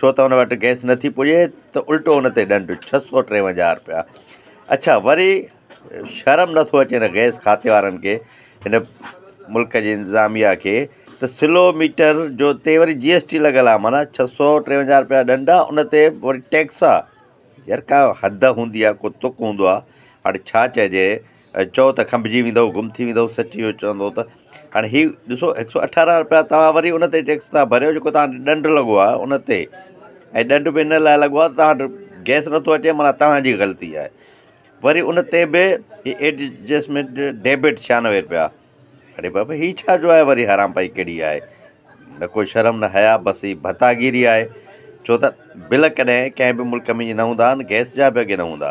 ڇو ته ان وٽ گئس نٿي پڄي ته الٽو ان تي ڏنڊ ڇهه سؤ ٽيونجاهه رپيا اڇا وري شرم نٿو اچي ان گئس کاتي وارن کي ان ملڪ جي انتظاميا کي ته سلو ميٽر جو تي وري جي ايس ٽي لڳل آ معنيٰ ڇهه سؤ ٽيونجاهه رپيا ڏنڊ آ ان تي وري ٽيڪس آ يار ڪا حد هوندي آ ڪو تڪ هوندو آ هاڻي ڇا چئجي چئو ته کنڀجي ويندؤ، گم ٿي ويندؤ، سچ اهو چوندو ته هاڻي هي ڏسو هڪ سؤ اٺارهن رپيا توهان وري ان تي ٽيڪس ٿا ڀريو جيڪو توهان تي ڏنڊ لڳو آهي ان تي ۽ ڏنڊ به ان لاء لڳو آهي ته توهان وٽ گئس نٿو اچي معنيٰ توهان جي غلطي آهي وري ان تي به هي ايڊجسٽمينٽ ڊيبٽ چھيانوي رپيا اري بابا هي ڇا جو آهي وري حرام پائي ڪهڙي آهي نه ڪو شرم نه حياء بس هي ڀتاگيري آهي ڇو ته بل ڪڏهن ڪنهن به ملڪ ۾ ائين نه هوندا آهن گئس جا به اڳي نه هوندا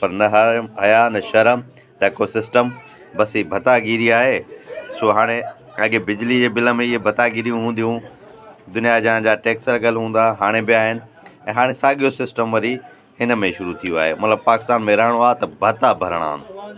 پر نه حيا نه شرم ته ڪو سسٽم بس هي ڀتا گيري آهي سو هاڻي اڳي بجلي جي بل ۾ اهي ڀتا گيريون هونديون دنيا جهان جا ٽيڪس لڳل هوندا هاڻي به آهن ۽ هاڻي ساڳيو سسٽم وري هن ۾ شروع ٿي ويو آهي مطلب پاڪستان ۾ رهڻو آهي ته ڀتا ڀرڻا آهن.